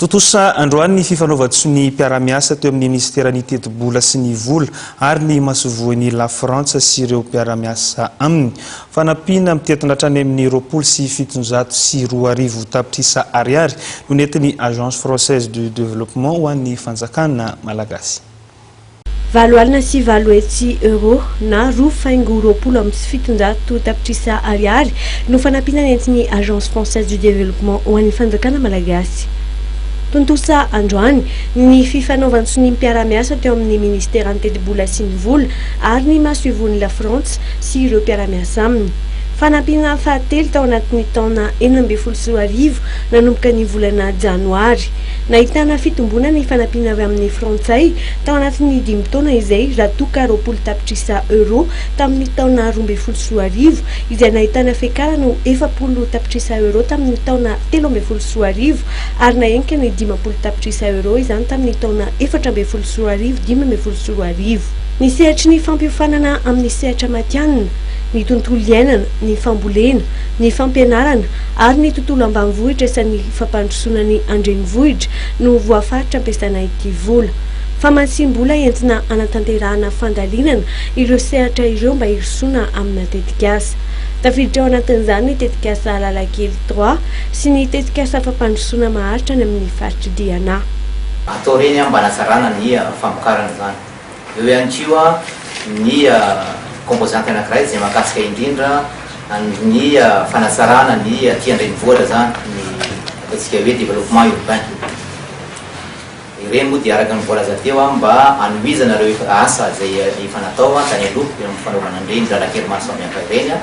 Tontosa androany ny fifanaovan-tson'ny mpiara-miasa teo amin'ny minisiteran'ny Tetibola sy ny Vola ary ny masoivohon'i Lafrantsa sy ireo mpiara-miasa aminy. Fanampiana mitentina hatrany amin'ny roapolo sy fitonjato sy roa arivo tapitrisa ariary no nentin'ny Agence Française de Développement ho an'ny fanjakana malagasy. Valo alina sy valo hetsy Euro na roa faingo roapolo amby sy fitonjato tapitrisa Ariary no fanampiana nentin'ny Agence Française du Développement ho an'ny Fanjakana Malagasy. Tontosa androany ny fifanaovan-tsoniam-piarahamiasa teo amin'ny Ministeran'ny Tetibola sy ny Vola ary ny Masoivohon'i Lafrantsa sy ireo mpiara-miasa aminy. Fanampiana fahatelo tao anatin'ny taona enina ambin'ny folo sy roa arivo nanomboka ny volana Janoary. Nahitana fitomboana ny fanampiana avy amin'ny Frantsay tao anatin'ny dimy taona izay, raha toa ka roapolo tapitrisa euro tamin'ny taona roa ambin'ny folo sy roa arivo, izay nahitana fiakarana ho efapolo tapitrisa euro tamin'ny taona telo ambin'ny folo sy roa arivo ary nahenika ny dimampolo tapitrisa euro izany tamin'ny taona efatra ambin'ny folo sy roa arivo dimy ambin'ny folo sy roa arivo. Ny sehatry ny fampiofanana amin'ny sehatra matihanina, ny tontolo iainana, ny fambolena, ny fampianarana ary ny tontolo ambanivohitra sy ny. fampandrosoana ny andrenivohitra no voafaritra ampiasana ity vola famatsiam-bola entina hanatanterahana fandalinana ireo sehatra ireo mba hirosoana amina tetikasa. Tafiditra ao anatin'izany ny tetikasa Alalakely trois sy ny tetikasa fampandrosoana maharitra any amin'ny faritr'i Diana. Atao reny ambana tsarana ny famokarana izany. Eo ihany koa ny composante anankiray izay mahakasika indrindra ny fanatsarana ny aty an-drenivohitra izany, ny ataontsika hoe développement urbain. Ireny moa dia araka ny voalaza teo mba hanohizana ireo efa asa izay efa natao tany aloha eo amin'ny fanaovana an'ireny lalan-kely maro samihafa ireny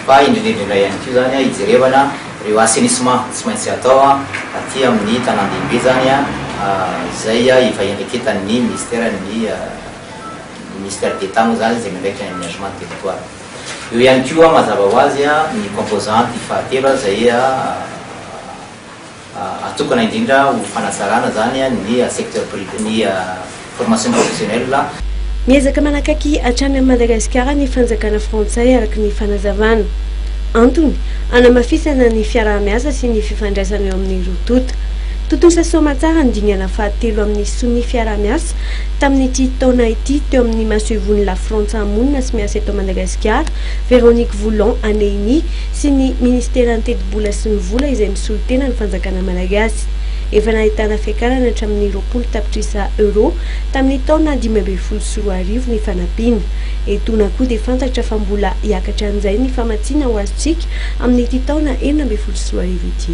fa indrindra indrindra ihany koa izany hijerevana Reo assainissement tsy maintsy atao aty amin'ny tanandehibe izany izay ifahiandraiketan'ny ministera ny ministère d'Etat moa izany izay miandraikitra ny aménagement du territoire. Eo ihany koa mazava ho azy ny composante fahatelo izay atokana indrindra ho fanatsarana izany ny secteur privé ny Formation professionnelle. Miezaka manakaiky hatrany an'i Madagasikara ny fanjakana frantsay araka ny fanazavana. Antony, hanamafisana ny fiaraha-miasa sy ny fifandraisana eo amin'ny roa tonta. Tontosa soamantsara ny dingana fahatelo amin'ny sonia fiaraha-miasa tamin'ity taona ity teo amin'ny masoivohon'ny Lafrantsa monina sy miasa eto Madagasikara, Véronique Voulon Aneini, sy ny Ministeran'ny Tetibola sy ny Vola izay misolo tena ny fanjakana malagasy. Efa nahitana fiakarany hatramin'ny roapolo tapitrisa Euro tamin'ny taona dimy ambin'ny folo sy roa arivo ny fanampiana. Etoana koa dia fantatra fa mbola hiakatra an'izay ny famatsiana ho azontsika amin'ity taona enina ambin'ny folo sy roa arivo ity.